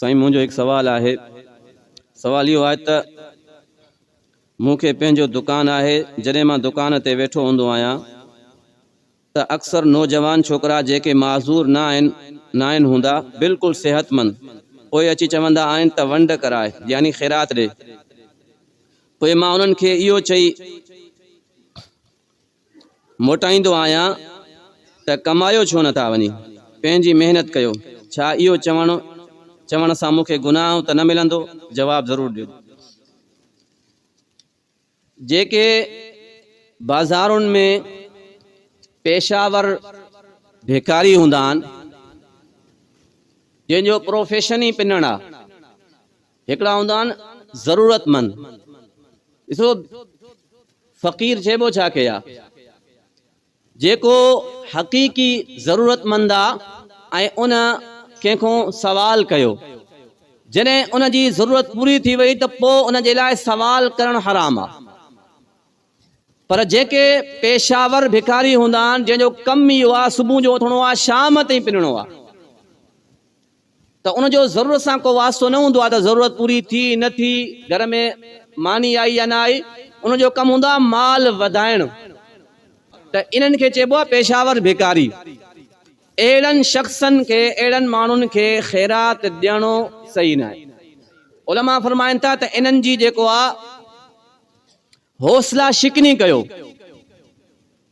سائين منهنجو هڪ سوال آهي سوال اهو آهي ته مون کي پنهنجو دڪان آهي جڏهن مان دڪان تي ويٺو هوندو آهيان ته اڪثر نوجوان ڇوڪرا جيڪي معذور نه آهن ناهن هوندا بلڪل صحتمند پوء اچي چوندا آهن ته ونڊ ڪراء يعني خيرات ڏي پوء مان انهن کي اهو چئي موٽائيندو آهيان ته ڪمايو ڇو نٿا وڃي پنهنجي محنت ڪيو ڇا اهو چوڻ چوڻ سان مونکي گناهه ته نه ملندو جواب ضرور ڏيو جيڪي بازارن ۾ پيشاور ڀيڪاري هوندا آهن جن جو پروفيشن ئي پنڻ آهي هڪڙا هوندا آهن ضرورتمند. ڏسو فقير چئبو ڇا کي آ؟ جيڪو حقيقي ضرورتمند آ ۽ ان ڪنهن کون سوال ڪيو. جڏهن ان جي ضرورت پوري ٿي وئي ته پوء ان جي لاء سوال ڪرڻ حرام آ. پر جيڪي پيشه ور ڀڪاري هوندا آهن جنهن جو ڪم ئي اهو آ صبح جو اٿڻو آ شام تائين پنڻو آ. ته ان جو ضرورت سان ڪو واسطو نه هوندو آهي ته ضرورت پوري ٿي نه ٿي، گهر ۾ ماني آئي يا نه آئي، ان جو ڪم هوندو آهي مال وڌائڻ ته انهن کي چئبو آهي پيشاور ڀيڪاري. اهڙن شخصن کي، اهڙن ماڻهن کي خيرات ڏيڻو صحيح ناهي. علماء فرمائن ٿا ته انهن جي جيڪو آهي حوصلا شڪني ڪيو.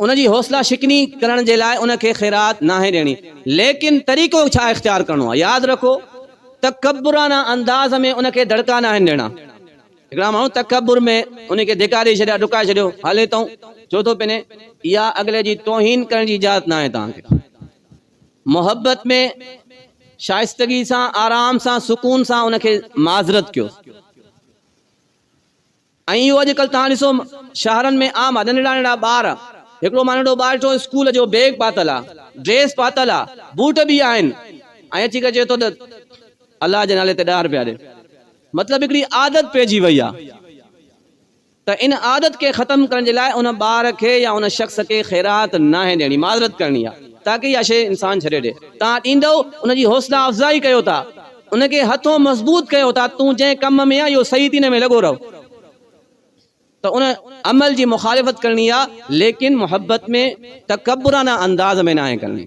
ان جي حوصلا شڪني ڪرڻ جي لاء ان کي خيرات ناهي ڏيڻي ليڪن طريقو ڇا اختيار ڪرڻو آهي ياد رکو تڪبرانه انداز ۾ ان کي دڙڪا ناهن ڏيڻا هڪڙا ماڻهو تڪبر ۾ ان کي ڌڪا ڏئي ڇڏيا ڊڪائي ڇڏيو هلي تئون ڇو ٿو پني اها اڳلي جي توهين ڪرڻ جي اجازت ناهي توهان کي محبت ۾ شائستگي سان آرام سان سڪون سان ان کي معذرت ڪيو ائين ئي اڄ ڪلھ توهان ڏسو شهرن ۾ عام آ ننڍڙا ننڍڙا ٻار هڪڙو مان ننڍڙو ٻار ڏٺو اسڪول جو بيگ پاتل آ ڊريس پاتل آ بوٽ به آهن ۽ اچي ڪري چئي ٿو ته الله جي نالي تي ڏهه رپيا ڏي مطلب هڪڙي عادت پئجي وئي آ ته ان عادت کي ختم ڪرڻ جي لاء ان ٻار کي يا ان شخص کي خيرات ناهي ڏيڻي معذرت ڪرڻي آ تاڪه اها شئي انسان ڇڏي ڏي توهان ڏيندؤ ان جي حوصلا افزائي ڪيو ٿا. ان کي هٿون مضبوط ڪيو ته تون جنهن ڪم ۾ آهين اهو صحيح ٿين ۾ لڳو رهه ته ان عمل جي مخالفت ڪرڻي آهي ليڪن محبت ۾ تڪبرانه انداز ۾ ناهي ڪرڻي.